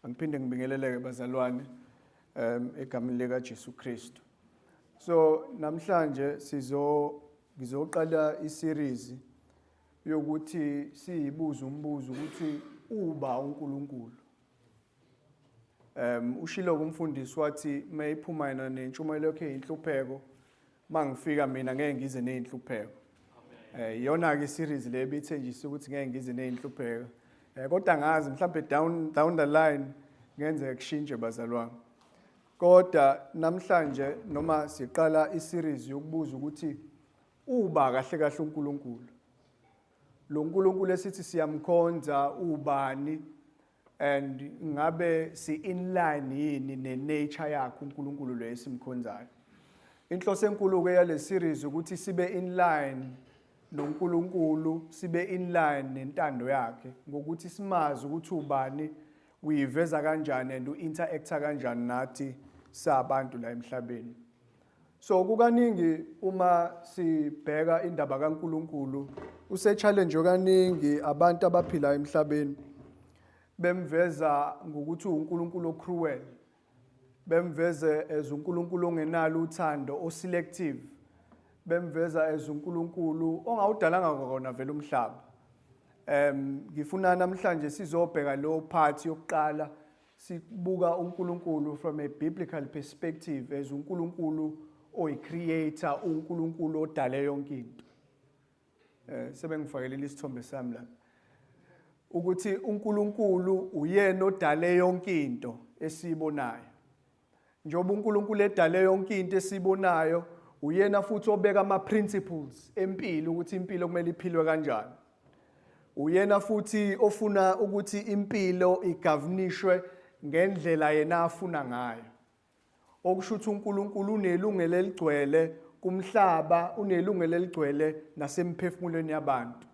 angiphinde ngibingeleleke bazalwane um egameni lika Jesu Kristu so namhlanje sizo ngizoqala i-series yokuthi siyibuze umbuzo ukuthi uba uNkulunkulu um ushilo kumfundisi wathi mayiphuma yena nentshumayelo yakhe inhlupheko mangifika mina ngeke ngize nezinhlupheko eh iyona ke series le ebithenjisa ukuthi ngeke ngize nezinhlupheko eh kodwa ngazi mhlawumbe down down the line ngenze kushintshe bazalwane kodwa namhlanje noma siqala iseries yokubuza ukuthi uba kahle kahle uNkulunkulu lo nkulunkulu esithi siyamkhonza ubani and ngabe si in line yini ne nature yakhe uNkulunkulu lo esimkhonzayo inhloso enkulu ke yale series ukuthi sibe in line noNkulunkulu sibe in line nentando yakhe ngokuthi simazi ukuthi ubani uyiveza kanjani and uinteract kanjani nathi sabantu la emhlabeni So kukaningi uma sibheka indaba kaNkulunkulu usechallenge kaningi abantu abaphila emhlabeni bemveza ngokuthi uNkulunkulu ocruel bemveze as uNkulunkulu ongenalo uthando oselective bemveza as uNkulunkulu ongawudalanga kona vele umhlaba em ngifuna namhlanje sizobheka lo part yokuqala Sibuka uNkulunkulu from a biblical perspective as uNkulunkulu oyicreator, uNkulunkulu odale yonke into. Eh sebengifakelile isithombe sami lapha. Ukuthi uNkulunkulu uyena odale yonke into esiyibonayo. Njengoba uNkulunkulu edale yonke into esibonayo, uyena futhi obeka ama-principles empilo ukuthi impilo kumele iphilwe kanjani. Uyena futhi ofuna ukuthi impilo igavunishwe ngendlela yena afuna ngayo. Okusho ukuthi uNkulunkulu unelungelo eligcwele kumhlaba, unelungelo eligcwele nasemphefumulweni yabantu.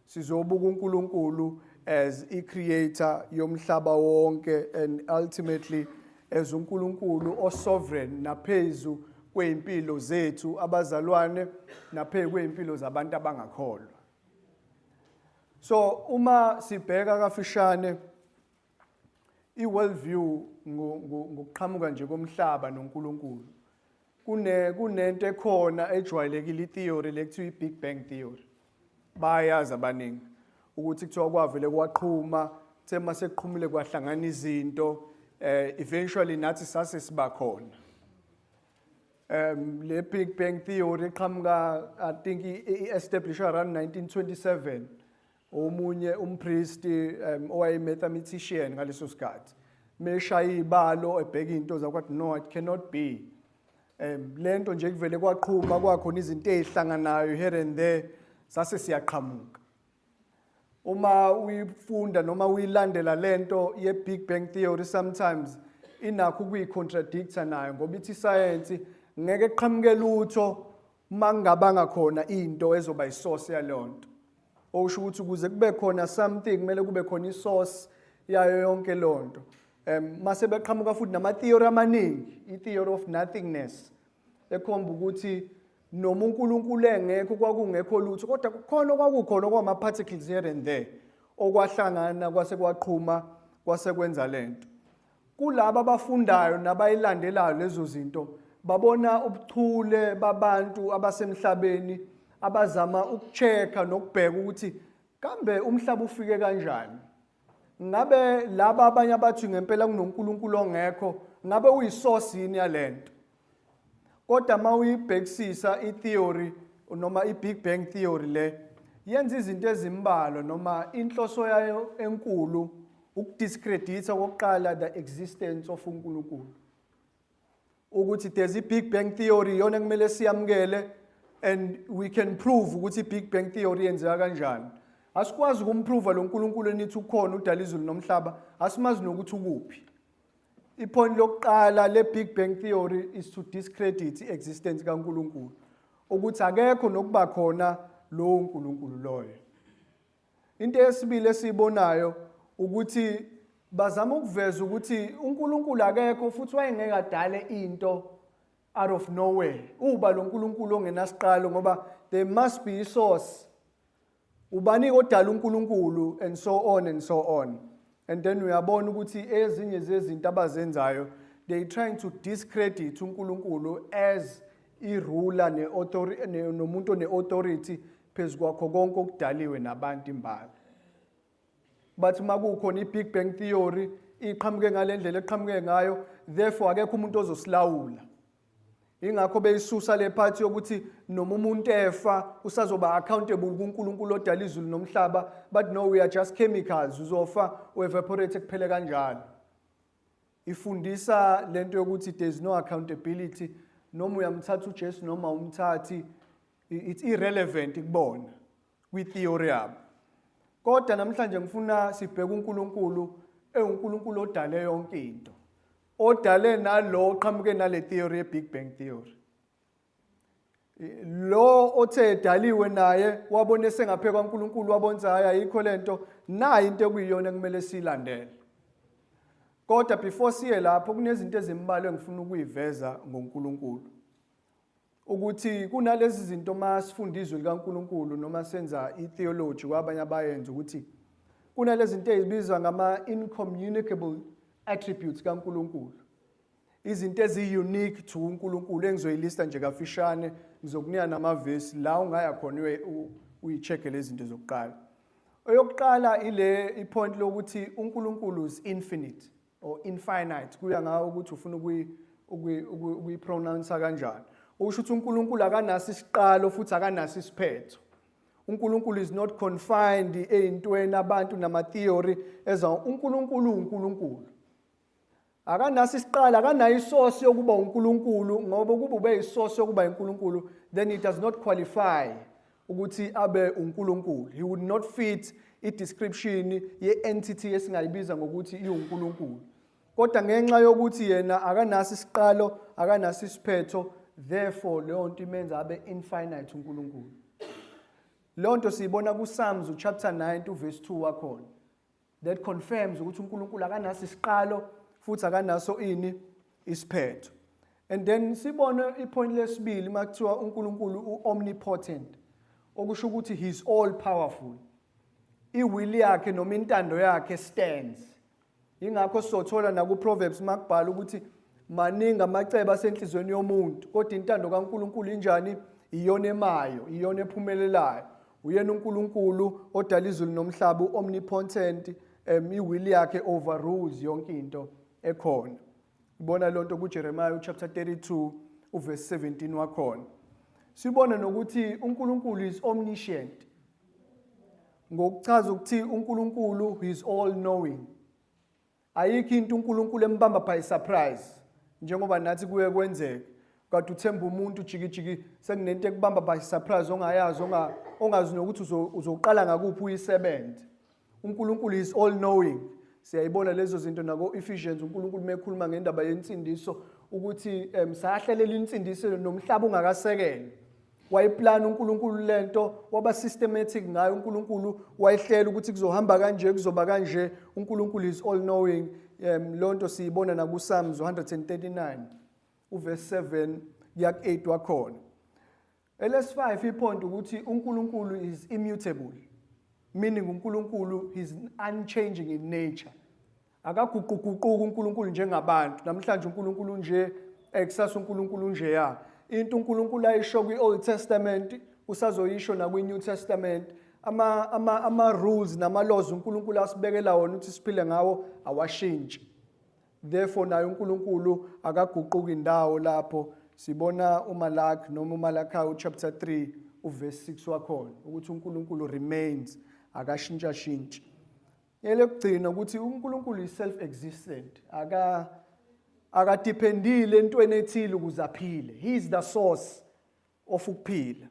sizobuka uNkulunkulu as i creator yomhlaba wonke and ultimately as uNkulunkulu o sovereign naphezu kweimpilo zethu abazalwane naphezu kweimpilo zabantu abangakholwa so uma sibheka kafishane i world view ngokuqhamuka nje komhlaba noNkulunkulu kune kunento ekhona ejwayelekile itheory lekuthiwa i-big bang theory bayazi abaningi ukuthi kuthiwa kwavele kwaqhuma kuthe uma sekuqhumile kwahlangana izinto eh eventually nathi sase sibakhona um le big bang theory iqhamuka i think i-establish around 1927 omunye umpristi um, owaye-mathematician ngaleso sikhathi meshaya iy'balo ebheka iy'nto zakwathi no it cannot be um le nto nje kuvele kwaqhuma kwakhona izinto ey'hlanganayo here and there sase siyaqhamuka uma uyifunda noma uyilandela le nto ye-big bang theory sometimes inakho ukuyicontradicta nayo ngoba ithi isayensi ngeke kuqhamuke lutho uma kungabanga khona into ezoba isource yalonto okusho ukuthi ukuze kube khona something kumele kube khona isource yayo yonke lonto um mase beqhamuka futhi nama theory amaningi i theory of nothingness ekhomba ukuthi noma uNkulunkulu engekho kwakungekho lutho kodwa kukhona kwakukhona kwama particles here and there okwahlangana kwase kwaqhuma kwase kwenza lento Kulaba abafundayo nabayilandelayo lezo zinto babona ubuchule babantu abasemhlabeni abazama ukucheka nokubheka ukuthi kambe umhlaba ufike kanjani ngabe laba abanye abathi ngempela kunoNkulunkulu ongekho ngabe uyisource yini yalento kodwa uma uyibhekisisa i-theory noma i-big bang theory le yenza izinto ezimbalwa noma inhloso yayo enkulu ukudiscreditha kokuqala the existence of uNkulunkulu ukuthi there's i-big bang theory yona kumele siyamukele and we can prove ukuthi i-big bang theory yenzeka kanjani asikwazi ukumprova lo nkulunkulu enithi ukhona udala izulu nomhlaba asimazi nokuthi ukuphi Ipoint lokuqala le Big Bang theory is to discredit iexistence kaNkulunkulu ukuthi akekho nokuba khona lowo nkulunkulu loyo into yesibili esiyibonayo ukuthi bazama ukuveza ukuthi uNkulunkulu akekho futhi wayengeke adale into out of nowhere uba lo nkulunkulu ongenasiqalo ngoba there must be isource Ubani odala uNkulunkulu and so on and so on. And then uyabona ukuthi ezinye zezinto abazenzayo they trying to discredit uNkulunkulu as irula ne authority nomuntu ne authority phezukwakho konke okudaliwe nabantu imbala. But makukhona i Big Bang theory iqhamuke ngalendlela eqhamuke ngayo therefore akekho umuntu ozosilawula. ingakho beyisusa le part yokuthi noma umuntu efa usazoba accountable kuNkulunkulu odala izulu nomhlaba but no we are just chemicals uzofa uevaporate kuphele kanjalo ifundisa lento yokuthi there is no accountability noma uyamthatha uJesu noma umthathi it's irrelevant kubona kwi theory yabo kodwa namhlanje ngifuna sibheke uNkulunkulu ewuNkulunkulu odale yonke into odale nalo oqhamuke nale theory ye-big bang theory lo othe edaliwe naye wabona esengaphe kwaNkulunkulu wabonza hayi ayikho lento nayi into ekuyiyona kumele siyilandele kodwa before siye lapho kunezinto ezimbalwa engifuna ukuyiveza ngoNkulunkulu ukuthi kunalezi zinto uma sifunda izwi likaNkulunkulu noma senza i-theology kwabanye abayenza ukuthi kunalezi zinto ezibizwa ngama-incommunicable attributes kaNkulunkulu izinto eziyi-unique to uNkulunkulu engizoyilista nje kafishane ngizokunika namavesi la ungaya khona uyi-check-e lezi zinto zokuqala eyokuqala ile ipoint lokuthi uNkulunkulu is infinite or infinite kuya ngawe ukuthi ufuna ukuyipronounsa kanjani usho ukuthi uNkulunkulu akanaso isiqalo futhi akanaso isiphetho uNkulunkulu is not confined eyintweni abantu nama theory eza uNkulunkulu uNkulunkulu akanaso isiqalo akanayo isource yokuba uNkulunkulu ngoba ukuba ube isource yokuba uNkulunkulu then it does not qualify ukuthi abe uNkulunkulu he would not fit i-description ye-entity esingayibiza ngokuthi iwuNkulunkulu kodwa ngenxa yokuthi yena akanaso isiqalo akanaso isiphetho therefore leyo nto imenza abe infinite uNkulunkulu leyo nto siyibona kuSalms chapter 9 uverse 2 wakhona that confirms ukuthi uNkulunkulu akanaso isiqalo futhi akanaso ini isiphetho and then sibone ipoint lesibili makuthiwa uNkulunkulu uomnipotent okusho ukuthi he is all powerful iwill yakhe noma intando yakhe stands ingakho sothola naku Proverbs makubhala ukuthi maningi amacebo asenhlizweni yomuntu kodwa intando kaNkulunkulu injani iyona emayo iyona ephumelelayo Uyena uNkulunkulu odala izulu nomhlaba uomnipotent um iwill yakhe overrules yonke into ekhona. Ibona lonto kuJeremiah chapter 32 uverse 17 wakhona. Sibona nokuthi uNkulunkulu is omniscient. Ngokuchaza ukuthi uNkulunkulu is all knowing. Ayikho into uNkulunkulu embamba by surprise njengoba nathi kuye kwenzeke. Kade uthemba umuntu jikijiki sekunento ekubamba by surprise ongayazi onga ongazi nokuthi uzoqala ngakuphi uyisebenze. UNkulunkulu is all knowing. Siyayibona lezo zinto nako Ephesians uNkulunkulu mekhuluma ngendaba yensindiso ukuthi um sahlelela insindiso nomhlaba ungakasekele. wayeplana uNkulunkulu lento waba systematic ngayo uNkulunkulu wayehlela ukuthi kuzohamba kanje kuzoba kanje uNkulunkulu is all knowing um, lonto siyibona naku Psalms 139 uverse 7 yak 8 wakhona ls 5 iphonto ukuthi uNkulunkulu is immutable meaning uNkulunkulu is unchanging in nature Akaguquguquki uNkulunkulu njengabantu. Namhlanje uNkulunkulu unje, ekusasa uNkulunkulu unjeya. Into uNkulunkulu ayisho kwi-Old Testament usazoyisho nakwi-New Testament. Ama ama ama rules nama laws uNkulunkulu asibekela wona ukuthi siphile ngawo awashintshi. Therefore naye uNkulunkulu akaguquki indawo lapho sibona uMalaki noma uMalakayi chapter 3 uverse 6 wakhona ukuthi uNkulunkulu remains akashintshashintshi. Elokugcina ukuthi uNkulunkulu is self existent. Aka akadependile entweni ethile ukuze aphile. He is the source of ukuphila.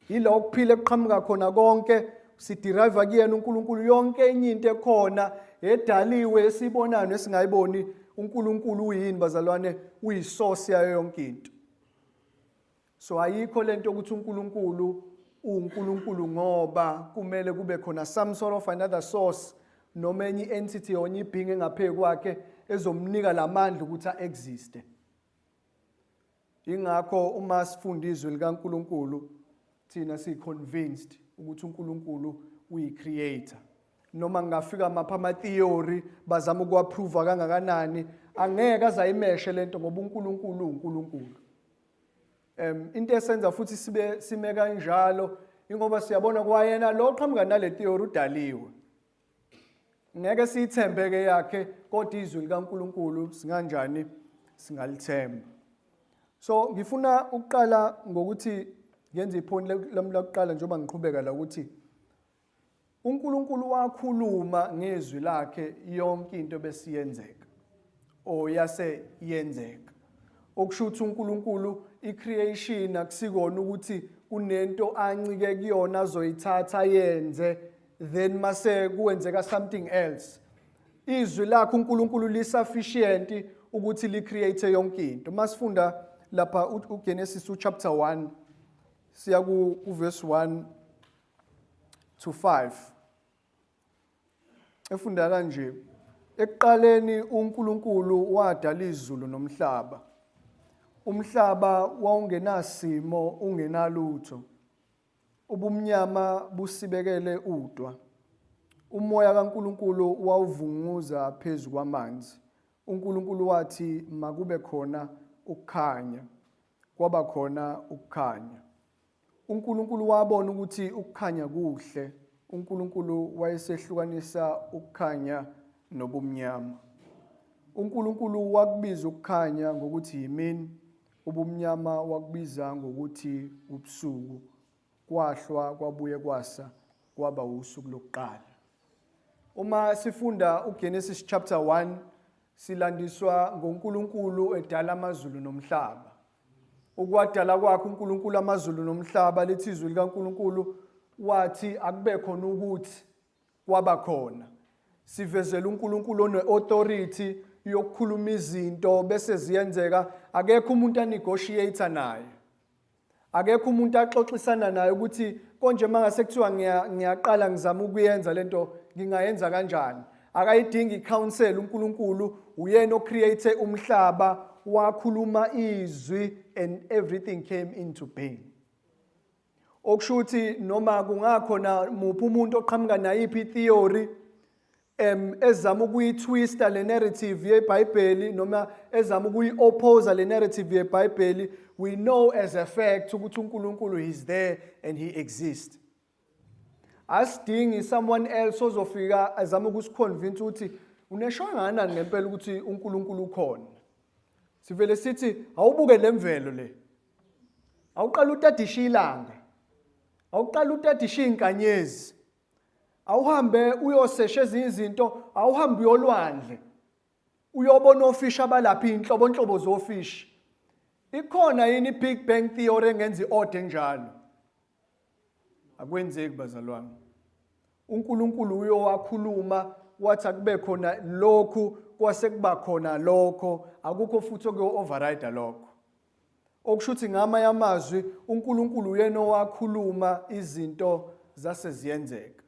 Yila ukuphila kuqhamuka khona konke siderive kuyena uNkulunkulu yonke enye into ekhona edaliwe esibonayo nesingayiboni uNkulunkulu uyini bazalwane uyisource yayo yonke into. So ayikho lento ukuthi uNkulunkulu uNkulunkulu ngoba kumele kube khona some sort of another source noma enye entity onye ibhinge ngaphezulu kwakhe ezomnika lamandla ukuthi aexiste ingakho uma sifunda izwi likaNkuluNkulu thina si convinced ukuthi uNkuluNkulu uyi creator noma ngingafika mapha ama theory bazama ukuapprove kangakanani angeke azayimeshe lento ngoba uNkulunkulu uNkulunkulu Um into esenza futhi sibe sime kanjalo ingoba siyabona kwayena lo qhamuka nale theory udaliwe. Ngeke siyithembe ke yakhe kodwa izwi likaNkuluNkulu singanjani singalithemba. So ngifuna ukuqala ngokuthi ngenze iphoni lami lokuqala njengoba ngiqhubeka la ukuthi uNkulunkulu wakhuluma ngezwi lakhe yonke into besiyenzeka or yase yenzeka okusho ukuthi uNkulunkulu icreation akusikona ukuthi kunento ancike kuyona azoyithatha yenze then mase kuwenzeka something else izwi lakhe uNkulunkulu lisufficient ukuthi li create yonke into masifunda lapha uGenesis chapter 1 siya ku verse 1 to 5 efunda kanje ekuqaleni uNkulunkulu wadala izulu nomhlaba umhlaba wawungenasimo ungenalutho ubumnyama busibekele udwa umoya kaNkulunkulu wawuvunguza phezu kwamanzi uNkulunkulu wathi makube khona ukukhanya Kwaba khona ukukhanya. UNkulunkulu wabona ukuthi ukukhanya kuhle. UNkulunkulu wayesehlukanisa ukukhanya nobumnyama. UNkulunkulu wakubiza ukukhanya ngokuthi yimini, ubumnyama wakubiza ngokuthi ubusuku. Kwahlwa kwabuye kwasa kwaba usuku lokuqala. Uma sifunda uGenesis chapter 1 silandiswa ngoNkulunkulu edala amazulu nomhlaba. Ukwadala kwakhe uNkulunkulu amazulu nomhlaba lithi izwi likaNkulunkulu wathi akube khona ukuthi kwaba khona. Sivezela uNkulunkulu one-authority yokukhuluma izinto bese ziyenzeka akekho umuntu anegotiator naye. akekho umuntu axoxisana naye ukuthi konje mangase kuthiwa ngiyaqala ngizama ukuyenza lento ngingayenza kanjani akayidingi counsel uNkulunkulu uyena ocreate umhlaba wakhuluma izwi and everything came into being okushuthi noma kungakhona muphi umuntu oqhamuka nayiphi theory em ezama ukuyitwista le narrative yeBhayibheli noma ezama ukuyi-oppose le narrative yeBhayibheli we know as a fact ukuthi uNkulunkulu is there and he exists asidingi someone else ozofika azama ukusiconvince ukuthi uneshangana ngempela ukuthi uNkulunkulu ukhona sivele sithi awubuke lemvelo le awuqala utadisha ilanga awuqala utadisha inkanyezi awuhambe uyosesha ezinye izinto awuhambe uyolwandle uyobona ofishi abalaphi inhlobo inhlobo zofishi ikhona yini big bang theory engenza iode njalo akwenzeki bazalwane uNkulunkulu uyowakhuluma wathi akube khona lokhu kwase kuba khona lokho akukho futhi okuyo override lokho okusho ukuthi ngamanye amazwi uNkulunkulu uyena owakhuluma izinto zase ziyenzeka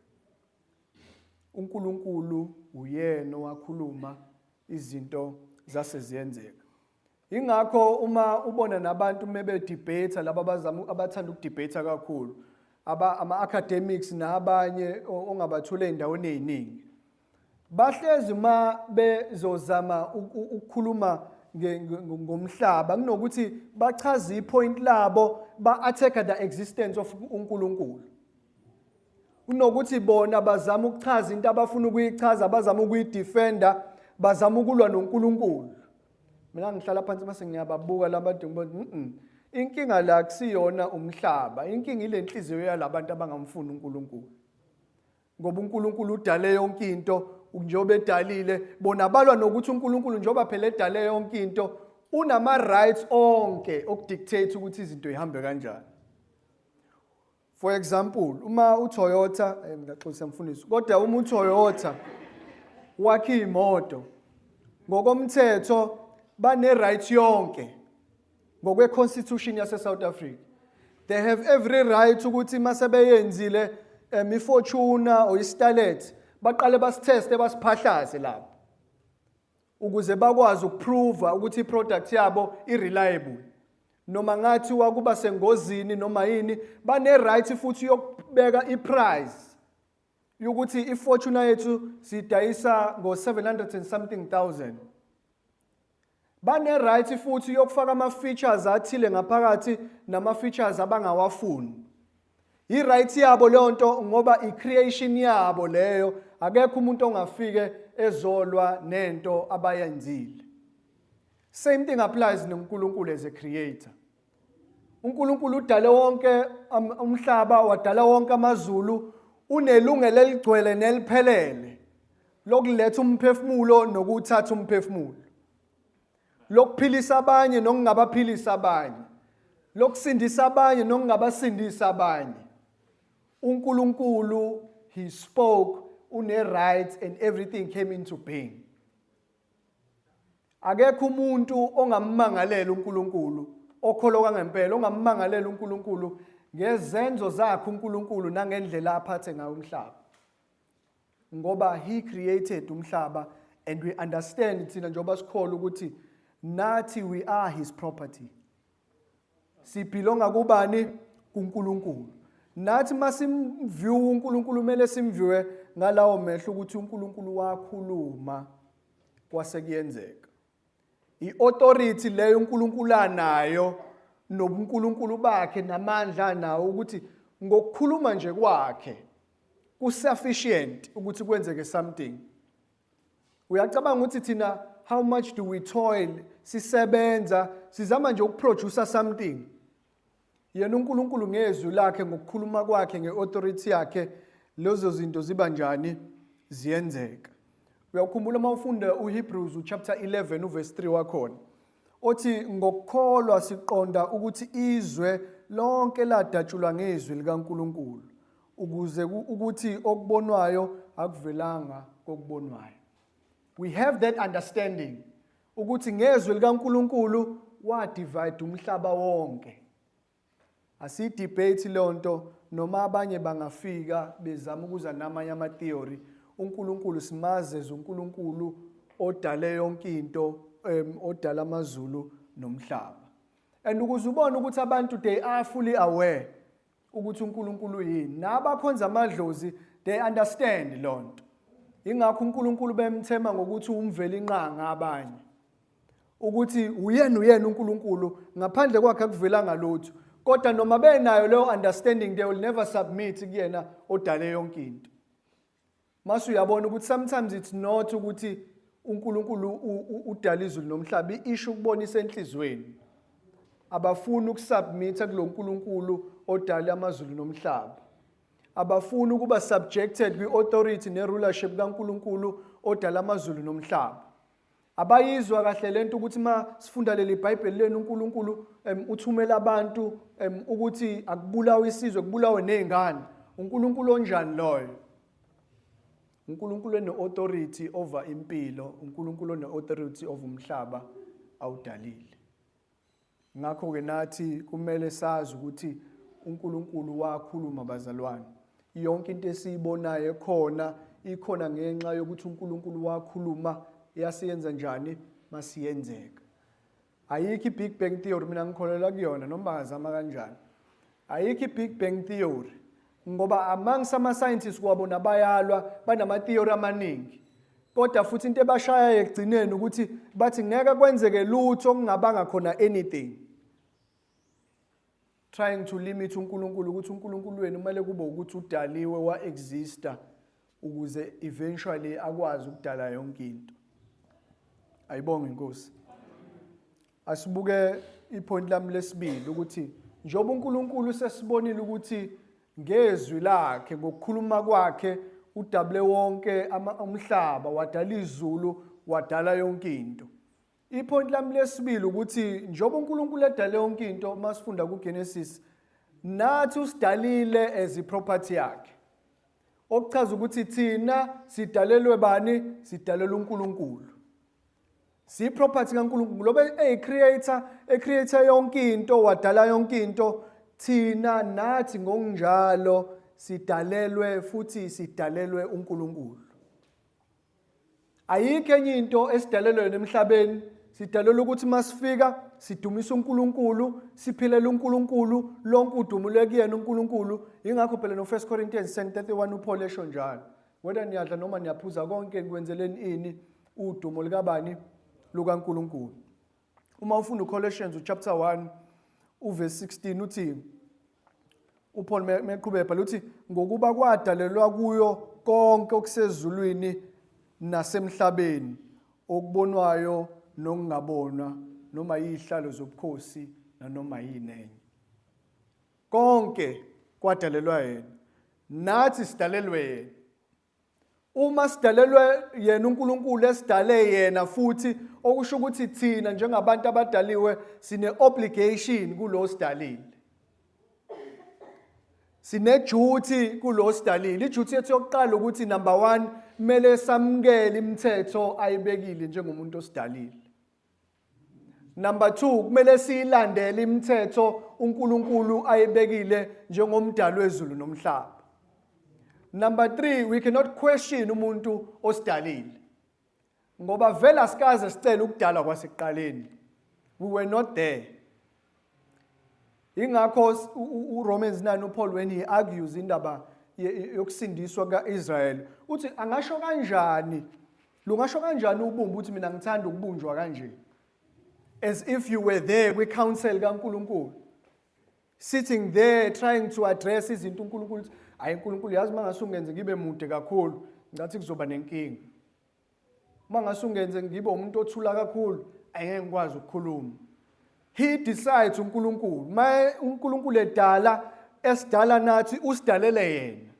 uNkulunkulu uyena owakhuluma izinto zase ziyenzeka ingakho uma ubona nabantu mebe debate laba bazama abathanda ukudebate kakhulu aba ama academics nabanye ongabathula endaweni eziningi bahlezi uma bezozama ukukhuluma ngomhlaba kunokuthi bachaze ipoint labo ba-attack the existence of unkulunkulu kunokuthi bona bazama ukuchaza into abafuna ukuyichaza bazama ukuyidefenda bazama ukulwa nonkulunkulu mina ngihlala phansi mase ngiyababuka labantu ngiba mm inkinga la kusiyona umhlaba inkinga ile nhliziyo yalabantu abangamfuni unkulunkulu ngoba uNkulunkulu udale yonke into njengoba edalile bona balwa nokuthi uNkulunkulu njengoba phela edale yonke into unama rights onke okudictate ukuthi izinto ihambe kanjani for example uma uToyota eh, ngaxolisa mfundisi kodwa uma uToyota wakhe imoto ngokomthetho bane right yonke ngokwe-constitution yase-south africa they have every right ukuthi uma sebeyenzile um ifortuna or istalet baqale basitheste basiphahlaze lapho ukuze bakwazi ukuprova ukuthi iproduct yabo ireliable noma ngathi wakuba sengozini noma yini bane-right futhi yokubeka iprice yokuthi ifortuna yethu sidayisa ngo-700 and something thousand bane-right futhi yokufaka ama-features athile ngaphakathi nama-features abangawafuni i-right yabo leyo nto ngoba i-creation yabo leyo akekho umuntu ongafike ezolwa nento abayenzile same thing applies nonkulunkulu as a creator uNkulunkulu udale wonke umhlaba wadala wonke amazulu unelungelo eligcwele neliphelele lokuletha umphefumulo nokuthatha umphefumulo lokuphilisa abanye nokungabaphilisa abanye lokusindisa abanye nokungabasindisa abanye uNkulunkulu he spoke une right and everything came into being Akekho umuntu ongammangalela uNkulunkulu okholoka ngempela ongammangalela uNkulunkulu ngezenzo zakhe uNkulunkulu nangendlela aphathe ngayo umhlaba. Ngoba he created umhlaba and we understand thina njengoba sikholwa ukuthi nathi we are his property. Sibhilonga kubani? KuNkulunkulu. Nathi masimview uNkulunkulu kumele simviwe ngalawo mehlo ukuthi uNkulunkulu wakhuluma kwase kuyenzeka. I-authority leyo uNkulunkulu anayo nobuNkulunkulu bakhe namandla nawo ukuthi ngokukhuluma nje kwakhe kusufficient ukuthi kwenzeke something uyacabanga ukuthi thina how much do we toil sisebenza sizama nje ukuproducer something yena uNkulunkulu ngezwi lakhe ngokukhuluma kwakhe ngeauthority yakhe lezo zinto ziba njani ziyenzeka uyakhumbula uma ufunda uHebrews chapter 11 uverse 3 wakhona othi ngokukholwa siqonda ukuthi izwe lonke ladatshulwa ngezwi likaNkuluNkulu ukuze ukuthi okubonwayo akuvelanga kokubonwayo we have that understanding ukuthi ngezwe likaNkuluNkulu wa divide umhlaba wonke asi debate lonto noma abanye bangafika bezama ukuza namanye ama theory uNkulunkulu simaze uNkulunkulu odale yonke into odala amazulu nomhlaba and ukuze ubone ukuthi abantu they are fully aware ukuthi uNkulunkulu uyini nabakhonza amadlozi they understand lonto ingakho uNkulunkulu bemthema ngokuthi umveli inqanga abanye ukuthi uyena uyena uNkulunkulu ngaphandle kwakhe akuvelanga lutho kodwa noma benayo leyo understanding they will never submit kuyena odale yonke into Mase uyabona ukuthi sometimes it's not ukuthi uNkulunkulu udala izulu nomhlaba isho ukubonisa enhlizweni abafuni ukusubmita kuloNkulunkulu odala amazulu nomhlaba abafuni ukuba subjected kwi-authority ne-rulership kaNkulunkulu odala amazulu nomhlaba abayizwa kahle lento ukuthi ma sifunda leli bhayibheli lenu uNkulunkulu um, uthumela abantu um, ukuthi akubulawe isizwe kubulawe nezingane uNkulunkulu onjani loyo uNkulunkulu ene-authority over impilo uNkulunkulu one-authority over umhlaba awudalile Ngakho-ke nathi kumele sazi ukuthi uNkulunkulu wakhuluma bazalwane. Yonke into esiyibonayo ekhona ikhona ngenxa yokuthi uNkulunkulu wakhuluma yasiyenza njani masiyenzeka. Ayikho i-Big Bang Theory mina ngikholelwa kuyona noma azama kanjani. Ayikho i-Big Bang Theory ngoba amongst ama-scientists kwabona bayalwa banama-theory amaningi kodwa futhi into ebashayayo ekugcineni ukuthi bathi ngeke kwenzeke lutho kungabanga khona anything trying to limit uNkulunkulu ukuthi uNkulunkulu wenu kumele kube ukuthi udaliwe wa-exista ukuze eventually akwazi ukudala yonke into ayibonge inkosi Asibuke ipoint lami lesibili ukuthi njengoba uNkulunkulu sesibonile ukuthi ngezwi lakhe ngokukhuluma kwakhe udabule wonke umhlaba wadala izulu wadala yonke into ipoint lami lesibili ukuthi njengoba uNkulunkulu edale yonke into uma sifunda kuGenesis nathi usidalile as iproperty yakhe okuchaza ukuthi thina sidalelwe bani sidalelwe uNkulunkulu siyiproperty kaNkulunkulu lobe eyicreator ecreator yonke into wadala yonke into thina nathi ngokunjalo sidalelwe futhi sidalelwe uNkulunkulu ayikho enye into esidalelwe emhlabeni sidalelwe ukuthi masifika sidumise uNkulunkulu siphilela uNkulunkulu lonke udumo lwekuyena uNkulunkulu ingakho phela no 1 Corinthians 10:31 uPaul esho njalo whether niyadla noma niyaphuza konke nikwenzeleni ini udumo likabani lukaNkuluNkulu uma ufunda uColossians chapter 1 uverse 16 uthi uPaul meqhubeka bhala uthi ngokuba kwadalelwa kuyo konke okusezulwini nasemhlabeni okubonwayo nokungabonwa noma izihlalo zobukhosi nanoma yini enye Konke kwadalelwa yena. Nathi sidalelwe yena. Uma sidalelwe yena uNkulunkulu esidale yena futhi okusho ukuthi thina njengabantu abadaliwe sine obligation kulo sidalile. Sine duty kulo sidalile. Iduty yethu yokuqala ukuthi number 1 kumele samukele imithetho ayibekile njengomuntu osidalile. Number 2 kumele siyilandele imithetho uNkulunkulu ayibekile njengomdali wezulu nomhlaba. Number 3 we cannot question umuntu osidalile. Ngoba vela sikaze sicela ukudalwa kwasekuqaleni. We were not there. ingakho uRomans 9 uPaul when he argues indaba yokusindiswa kaIsrael uthi angasho kanjani lungasho kanjani ubumba ukuthi mina ngithanda ukubunjwa kanje as if you were there kwi council kaNkuluNkulu sitting there trying to address izinto uNkulunkulu ayi uNkulunkulu yazi mangase ungenze ngibe mude kakhulu ngathi kuzoba nenkinga uma ngase ungenze ngibe umuntu othula kakhulu angeke ngikwazi ukukhuluma he decides uNkulunkulu maye uNkulunkulu edala esidala nathi usidalele yena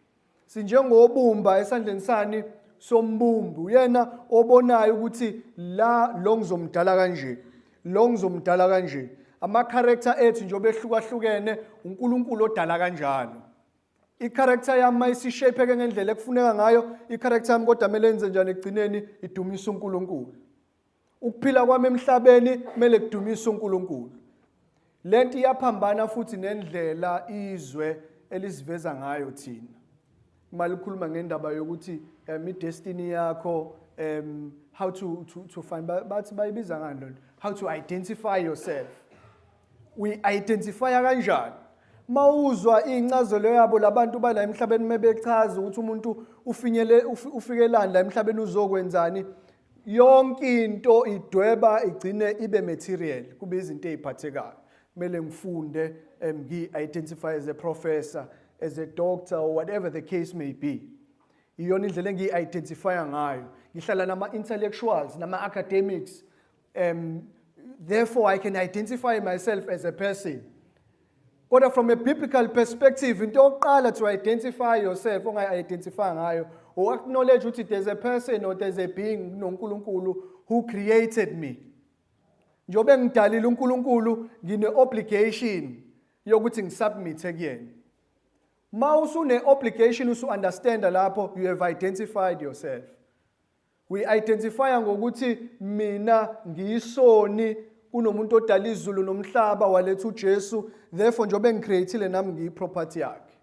sinjengobumba esandleni sani sombumbi uyena obonayo ukuthi la lo ngizomdala kanje lo ngizomdala kanje ama-character ethu njengoba ehlukahlukene unkulunkulu odala kanjalo i-character yami uma isishapeke ngendlela ekufuneka ngayo i-character yami kodwa kumele yenze njani ekugcineni idumisa uNkulunkulu ukuphila kwami emhlabeni kumele kudumisa uNkulunkulu le nto iyaphambana futhi nendlela izwe elisiveza ngayo thina uma likhuluma ngendaba yokuthi um idestiny yakho um how to, to, to find bathi bayibiza ngani lento how to identify yourself uyi-identifya kanjani uma uzwa iy'ncazelo yabo labantu bala emhlabeni uma bechaza ukuthi umuntu ufikelani la emhlabeni uzokwenzani yonke into idweba igcine ibe material kube izinto eziphathekayo kumele ngifunde um, ngi-identify as a professor as a doctor or whatever the case may be iyona indlela engiyi-identifya ngayo ngihlala nama-intellectuals nama-academics um, therefore i can identify myself as a person kodwa from a biblical perspective into yokuqala to identify yourself ongayi-identify ngayo u-acknowledge ukuthi there's a person or there's a being nonkulunkulu who created me njengoba engidalile unkulunkulu ngine-obligation yokuthi ngisubmithe kuyena ma usune-obligation usu-understanda lapho you have identified yourself We identify ngokuthi mina ngiyisoni kunomuntu odala izulu nomhlaba waletha uJesu therefore njengoba engicreatile nami ngiyiproperty yakhe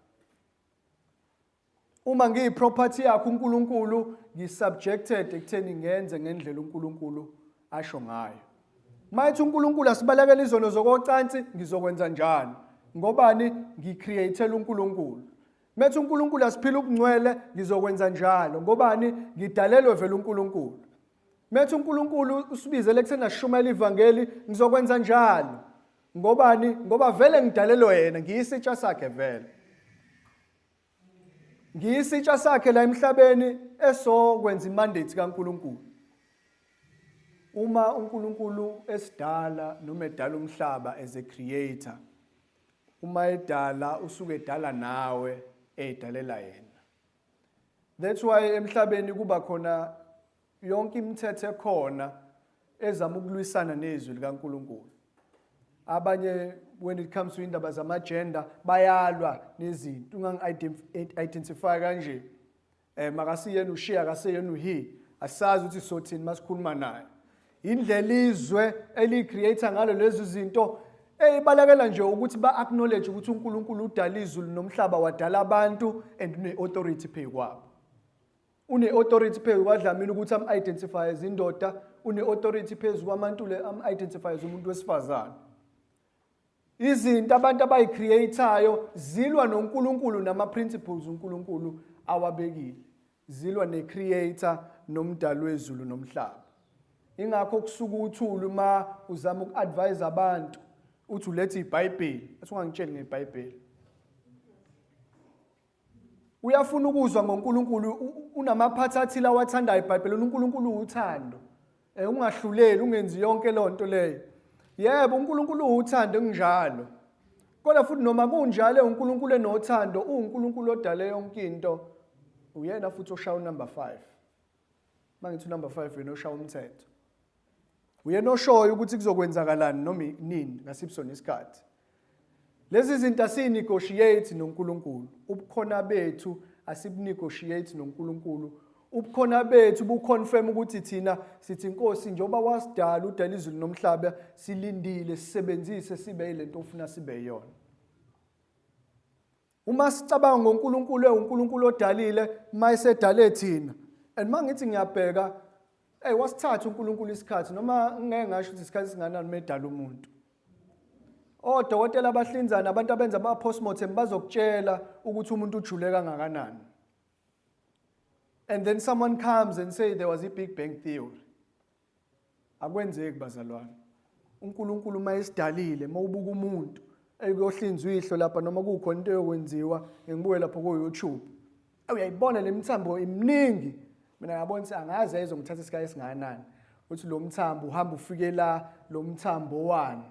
uma ngiyiproperty yakhe uNkulunkulu ngisubjected ekutheni ngenze ngendlela uNkulunkulu asho ngayo mayithi uNkulunkulu asibalekela izono zokocansi ngizokwenza njani ngobani ngicreatela uNkulunkulu Methi uNkulunkulu asiphile ubungcwele ngizokwenza njalo ngobani ngidalelwe vele uNkulunkulu. Methi uNkulunkulu usibizele ekutheni ashumayele ivangeli ngizokwenza njalo. Ngobani ngoba vele ngidalelwe yena ngiyisitsha sakhe vele. Ngiyisitsha sakhe la emhlabeni esokwenza imandate kaNkulunkulu. Uma uNkulunkulu esidala noma edala umhlaba as a creator Uma edala usuke edala nawe eyidalela yena. That's why emhlabeni kuba khona yonke imithetho ekhona ezama ukulwisana nezwi likaNkuluNkulu. Abanye when it comes to indaba zama gender bayalwa nezinto ungangi identify kanje. eh makasiyena ushiya akaseyena uhi asazi ukuthi sothini masikhuluma naye indlela izwe elicreator ngalo lezi zinto eyibalekela nje ukuthi ba acknowledge ukuthi uNkulunkulu udala izulu nomhlaba wadala abantu and une authority phezu kwabo une authority phezu kwaDlamini ukuthi am identify izindoda une authority phezu kwaMantule am identify umuntu wesifazane Izinto abantu abayicreatayo zilwa noNkulunkulu nama principles uNkulunkulu awabekile. Zilwa necreator nomdali wezulu nomhlaba. Ingakho kusuka uthulu uma uzama uku-advise abantu uthi ulethe iBhayibheli, athi ungangitsheli ngeBhayibheli. Uyafuna ukuzwa ngoNkulunkulu unamaphathi athile awathandayo eBhayibhelini uNkulunkulu uwuthando. Eh ungahluleli ungenzi yonke lonto leyo. Yebo uNkulunkulu uwuthando kunjalo. Kodwa futhi noma kunjalo uNkulunkulu enothando uNkulunkulu odale yonke into uyena futhi oshaya unumber 5. uma ngithi unumber five uyena oshaya umthetho uyena oshoyo ukuthi kuzokwenzakalani noma nini ngasiphi sona isikhathi lezi zinto asiyinegotiate nonkulunkulu ubukhona bethu asibunegotiate nonkulunkulu ubukhona bethu buconfirm ukuthi thina sithi inkosi njengoba wasidala udala izulu nomhlaba silindile sisebenzise sibe yilento ofuna sibe yona uma sicabanga ngoNkulunkulu ewuNkulunkulu odalile uma esedale thina and uma ngithi ngiyabheka hey wasithatha uNkulunkulu isikhathi noma ngeke ngasho ukuthi isikhathi singanani medala umuntu odokotela abahlinzana abantu abenza ama postmortem bazokutshela ukuthi umuntu ujule kangakanani and then someone comes and say there was a big bang theory Akwenzeki bazalwane. UNkulunkulu uma esidalile, uma ubuka umuntu ekuyohlinzwa ihlo lapha noma kukhona into eyokwenziwa ngibuke lapho ku-YouTube. Uyayibona le mithambo iminingi. Mina ngabona ukuthi angaze izongithatha isikhathi esingakanani. Uthi lo mthambo uhamba ufike la lo mthambo wani?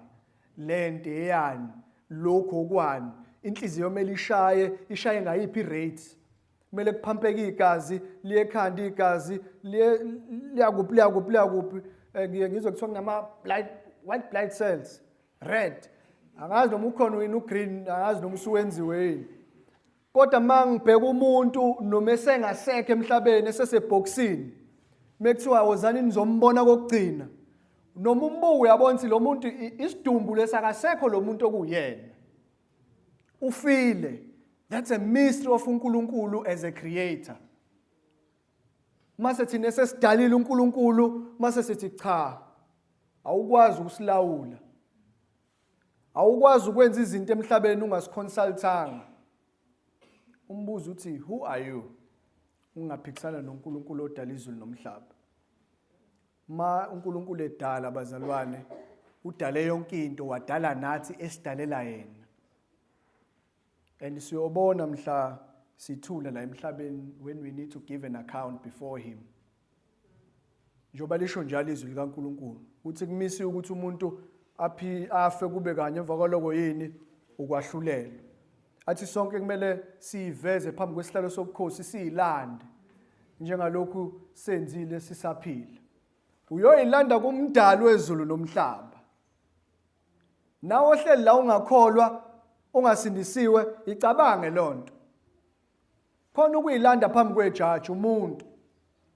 Lento eyani? Lokho kwani? Inhliziyo kumele ishaye, ishaye ngayiphi rate? kumele kuphampeke igazi liye ekhanda igazi liye liyakuphi liyakuphi liyakuphi eh, ngiye ngizwe kuthiwa kunama blood white blood cells red angazi noma ukhona wini ugreen angazi noma usuwenziwe yini kodwa uma ngibheka umuntu noma esengasekho emhlabeni esesebhokisini mekuthiwa wozani nizombona kokugcina noma umbuku uyabona ukuthi lo muntu isidumbu lesakasekho lo muntu okuyena ufile that's a mystery of uNkulunkulu as a creator mase thina sesidalile uNkulunkulu mase sithi cha awukwazi ukusilawula awukwazi ukwenza izinto emhlabeni ungasiconsultanga umbuzo uthi who are you ungaphikisana noNkulunkulu odala izulu nomhlaba Ma uNkulunkulu edala bazalwane udale yonke into wadala nathi esidalela yena. And siyobona mhla sithule la emhlabeni when we need to give an account before him. Njoba lisho njalo izwi likaNkulunkulu uthi kumisi ukuthi umuntu aphi afe kube kanye emva kwaloko yini ukwahlulelwa. athi sonke kumele siyiveze phambi kwesihlalo sobukhosi siyilande njengalokhu senzile sisaphila uyoyilanda kumdali wezulu nomhlaba nawe ohleli la ungakholwa ungasindisiwe icabange lonto khona ukuyilanda phambi kwejaji umuntu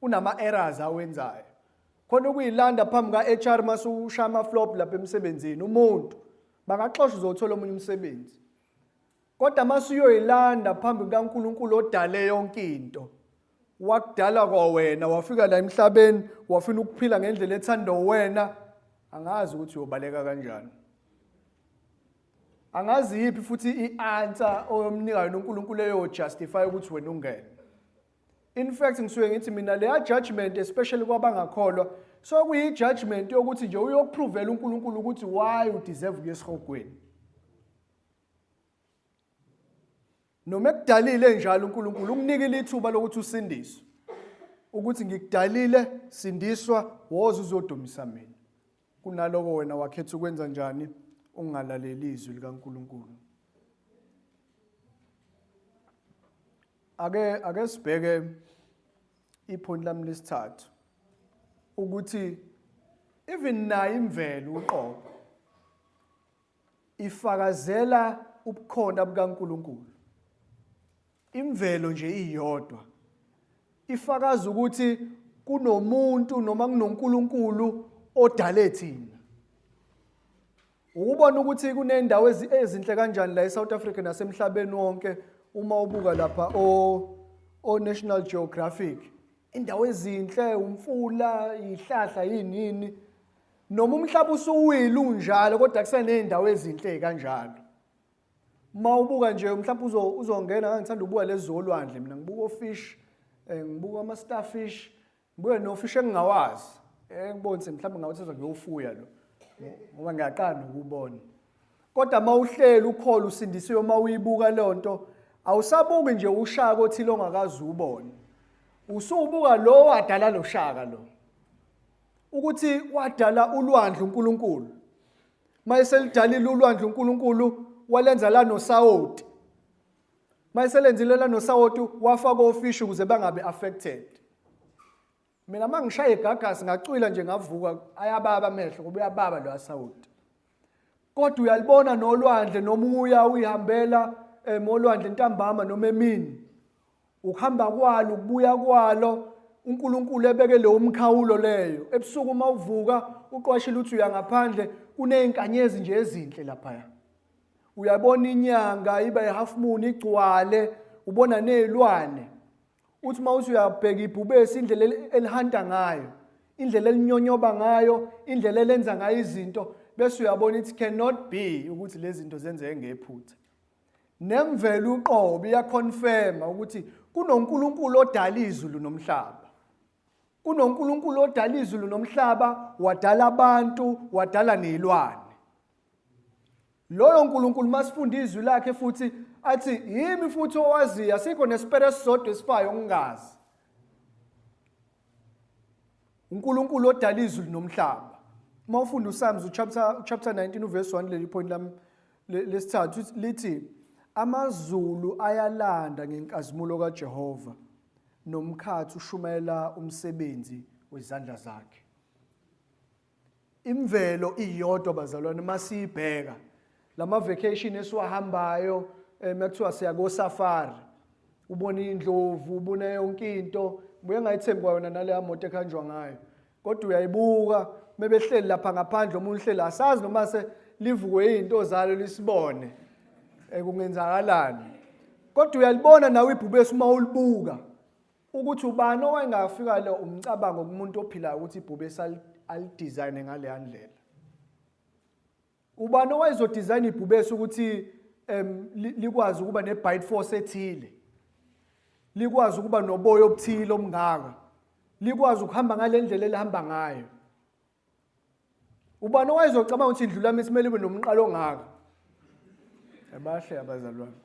unama errors awenzayo khona ukuyilanda phambi ka HR masushaya ama flop lapha emsebenzini umuntu bangaxosha uzothola omunye umsebenzi Kodwa masuyoyilanda phambi kukaNkulunkulu odale yonke into. Wakudala kwawena, wafika la emhlabeni, wafuna ukuphila ngendlela ethanda wena. Angazi ukuthi uyobaleka kanjani. Angazi yipi futhi i-answer oyomnika yona uNkulunkulu eyojustify ukuthi wena ungene. in fact ngisuke ngithi mina leya judgment especially kwabangakholwa so kuyi judgment yokuthi nje uyokuphrovela uNkulunkulu ukuthi why u deserve kuyesihogweni noma ekudalile njalo uNkulunkulu ukunikile ithuba lokuthi usindiswe ukuthi ngikudalile sindiswa woza uzodumisa mina kunaloko wena wakhetha ukwenza njani ungalaleli izwi likaNkulunkulu Ake ake sibheke iphoni lami lesithathu ukuthi even nayo imvelo uqobo ifakazela ubukhona bukaNkuluNkulu imvelo nje iyodwa ifakaza ukuthi kunomuntu noma kunoNkulunkulu odale thina Ukubona ukuthi kunendawo ezinhle kanjani la eSouth Africa nasemhlabeni wonke uma ubuka lapha o o National Geographic indawo ezinhle umfula ihlahla yinini noma umhlaba usuwile unjalo kodwa kuseney'ndawo ezinhle kanjalo uma ubuka nje mhlawumbe uzongena ngangithanda ubuka lezi zolwandle mina ngibuka ofish um eh, ngibuka ama-starfish Ngibuye nofishi engingawazi engibonise mhlawumbe ngabe sezwa ngiyowufuya lo ngoba ngiyaqala ukubona kodwa uma uhleli ukhole usindisiwe uma uyibuka leyo nto awusabuki nje ushaya kothile ongakazi ubone usubuka lo wadala lo shaka lo ukuthi wadala ulwandle uNkulunkulu mayeselidalile ulwandle uNkulunkulu walenza la nosawoti mayiselenzile la nosawoti wafa kofish ukuze bangabe affected mina mangishaye igagasi ngacwila nje ngavuka ayababa amehlo kuba uyababa lo asawoti kodwa uyalibona nolwandle nomuya uyihambela emolwandle eh, ntambama noma emini ukuhamba kwalo ukubuya kwalo uNkulunkulu ebeke leyo umkhawulo leyo ebusuku uma uvuka uqwashile uthi uyangaphandle kunezinkanyezi nje ezinhle lapha uyabona inyanga iba ihalf moon igcwale ubona nezilwane uthi uma uthi uyabheka ibhubesi indlela elihanta ngayo indlela elinyonyoba ngayo indlela elenza ngayo izinto bese uyabona it cannot be ukuthi lezi zinto zenzeke ngephutha nemvelo uqobo iyaconfirma ukuthi kunoNkulunkulu odala izulu nomhlaba kunoNkulunkulu odala izulu nomhlaba wadala abantu wadala nezilwane loyo nkulunkulu masifunda izwi lakhe futhi athi yimi futhi owaziyo asikho nesipere esisodwa esifayo ngingazi unkulunkulu odala izulu nomhlaba uma ufunda usalms uchapter, uchapter 19 uverse 1 leli point lami lesithathu lithi amazulu ayalanda ngenkazimulo kajehova nomkhathi ushumayela umsebenzi wezandla zakhe imvelo iyodwa bazalwane masiyibheka lama vacation esiwahambayo eh, makuthiwa siya ko safari ubona indlovu ubona yonke into buye ngayithembi kwayona naleya moto ekhanjwa ngayo kodwa uyayibuka mebehleli lapha ngaphandle omunye uhleli asazi noma se livukwe izinto zalo lisibone eh, kungenzakalani kodwa uyalibona nawe ibhubesi uma ulibuka Ukuthi ubani owayengafika le umcabango kumuntu ophilayo ukuthi ibhubesi alidizayine ngaleya ndlela. Ubani owayezodizayina ibhubesi ukuthi um likwazi ukuba ne-bite force ethile likwazi ukuba noboya obuthile omngaka likwazi ukuhamba ngale ndlela elihamba ngayo ubani owayezocabanga ukuthi indlu lami simele ibe nomqalo ongaka abahle abazalwane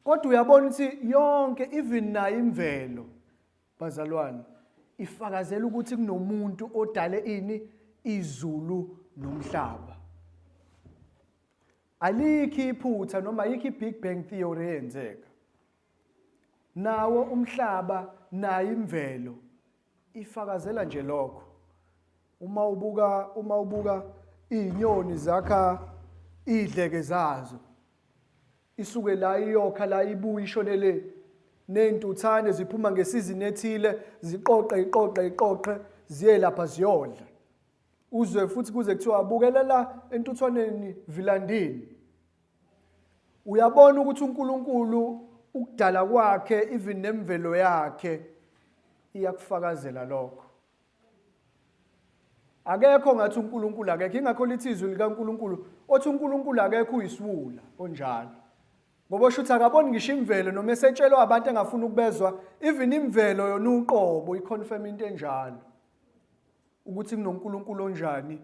kodwa uyabona ukuthi yonke even nayo imvelo bazalwane ifakazela ukuthi kunomuntu odale ini izulu nomhlaba alikho iphutha noma yikho i-big bang theory eyenzeka nawo umhlaba nayo imvelo ifakazela nje lokho uma ubuka uma ubuka izinyoni zakha idleke zazo isuke la iyokha la ibuye ishone le nezintuthane ziphuma ngesizini ethile ziqoqe iqoqe iqoqe ziye lapha ziyodla uzwe futhi kuze kuthiwa bukelela entuthwaneni vilandini Uyabona ukuthi uNkulunkulu ukudala kwakhe even nemvelo yakhe iyakufakazela lokho. Akekho ngathi uNkulunkulu akekho ingakho lithi izwi likaNkulunkulu othi uNkulunkulu akekho uyisiwula onjalo. Ngoba osho ukuthi akaboni ngisho imvelo noma esetshelwa abantu engafuni ukubezwa even imvelo yona uqobo iconfirm into enjalo. Ukuthi kunoNkulunkulu onjani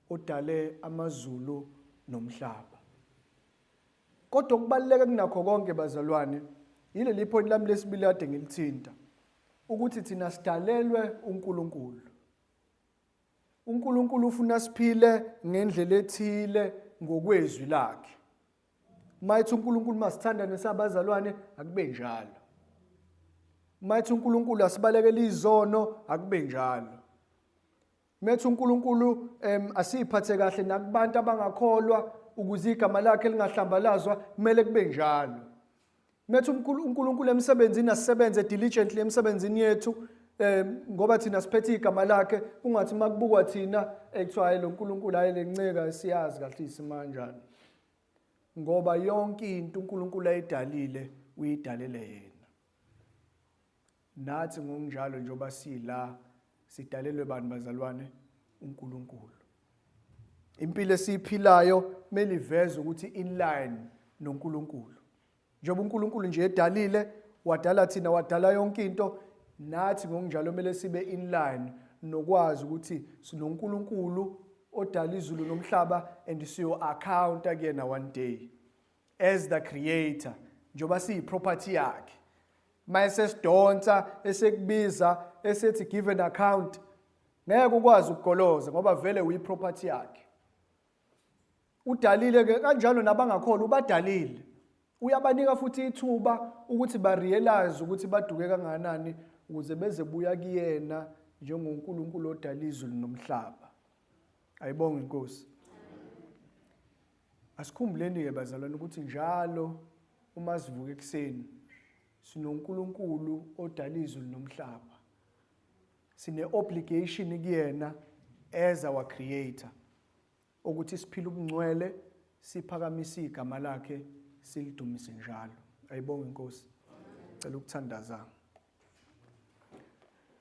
odale amazulu nomhlaba. Kodwa okubaluleke kunakho konke bazalwane yileli point lami lesibili kade ngilithinta ukuthi thina sidalelwe uNkulunkulu. uNkulunkulu ufuna siphile ngendlela ethile ngokwezwi lakhe. Mayithi uNkulunkulu masithandane sabazalwane akube njalo. Mayithi uNkulunkulu asibalekele izono akube njalo. Methu uNkulunkulu em asiphathe kahle nakubantu abangakholwa ukuze igama lakhe lingahlambalazwa kumele kube njalo. Nathi uNkulunkulu emsebenzini asisebenze diligently emsebenzini yethu eh ngoba thina siphethe igama lakhe kungathi makubukwa thina ekuthiwa hayi lo Nkulunkulu hayi lenceka esiyazi kahle isimanjani ngoba yonke into uNkulunkulu ayidalile uyidalele yena Nathi ngokunjalo njengoba sila sidalelwe bani bazalwane uNkulunkulu. Impilo esiyiphilayo kumele iveze ukuthi in line noNkulunkulu. Njengoba uNkulunkulu nje edalile, wadala thina, wadala yonke into, nathi ngokunjalo kumele sibe in line nokwazi ukuthi sinoNkulunkulu odala izulu nomhlaba and siyo accounta kuyena one day. as the creator njengoba siyi property yakhe mayese sidonsa esekubiza esethi give an account ngeke ukwazi ukugoloza ngoba vele uyi property yakhe udalile ke kanjalo nabangakholwa ubadalile uyabanika futhi ithuba ukuthi ba realize ukuthi baduke kanganani ukuze beze buya kuyena njengoNkulunkulu odala izulu nomhlaba ayibonge inkosi Asikhumbuleni-ke bazalwane ukuthi njalo uma sivuka ekuseni sinoNkulunkulu odala izulu nomhlaba. Sine-obligation kuyena as our creator ukuthi siphile ubungcwele siphakamise igama lakhe silidumise njalo. Ayibonge inkosi. Cela ukuthandaza.